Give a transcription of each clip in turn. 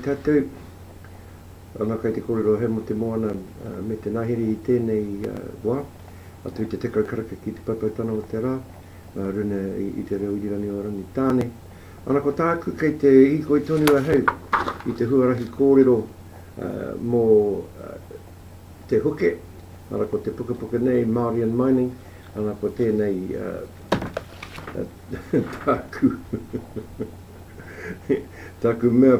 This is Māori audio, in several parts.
Tēnei wā, kei te kōrero he mō te moana me te ngahere i tēnei wā, atu i te tekau karaka ki te paipaitanga o te rā, ngā runa i te reo irirangi o Rangitāne. Ana ko tāku kei te hīkoi tonu ahau i te huarahi kōrero mō. Te Huke, ara ko te pukapuka nei Māori and Mining, ana ko tēnei tāku tāku mea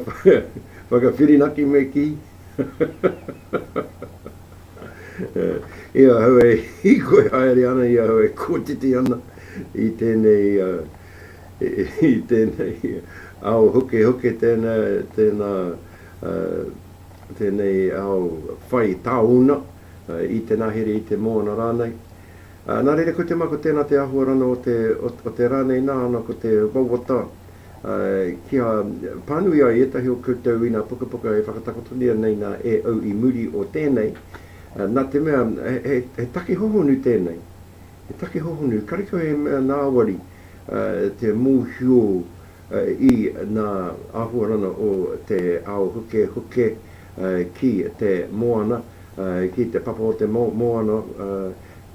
whakawhirinaki me kī i ahau e hīkoi haere ana, i ahau e kotiti ana i tēnei i tēnei ao hukehuke tēnā tēnei ao whai tāona, i te nahere, i te moana rānei. Nā reira ko te mā ko tēnā te āhuarana o te rā nei nāna ko te wawata kia pānui ai ētahi o koutou i nā pukapuka e whakatakotoria nei nā e au i muri o tēnei, nā te mea he take hohonu tēnei, he take hohonu, karekau he mea nāwari te mōhio, I ngā āhuarana o te ao hukehuke ki te moana, ki te papa o te moana,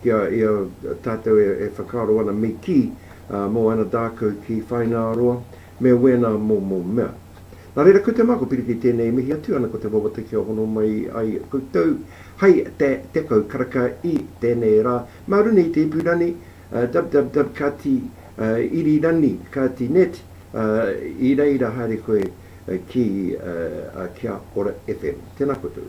ki a ia tātou e whakaaro ana me kī, mō ana dākau ki Whainaaroa, me wēnā momo mea. Nā reira, ko te mā, ko Piriki tēnei e mihi atu ana ko te wawata kia hono mai ai koutou hai te tekau karaka i tēnei rā, mā runga i te ipu rani, www.kati irirani kati net I reira haere koe ki a Kia Ora FM. Tēnā koutou.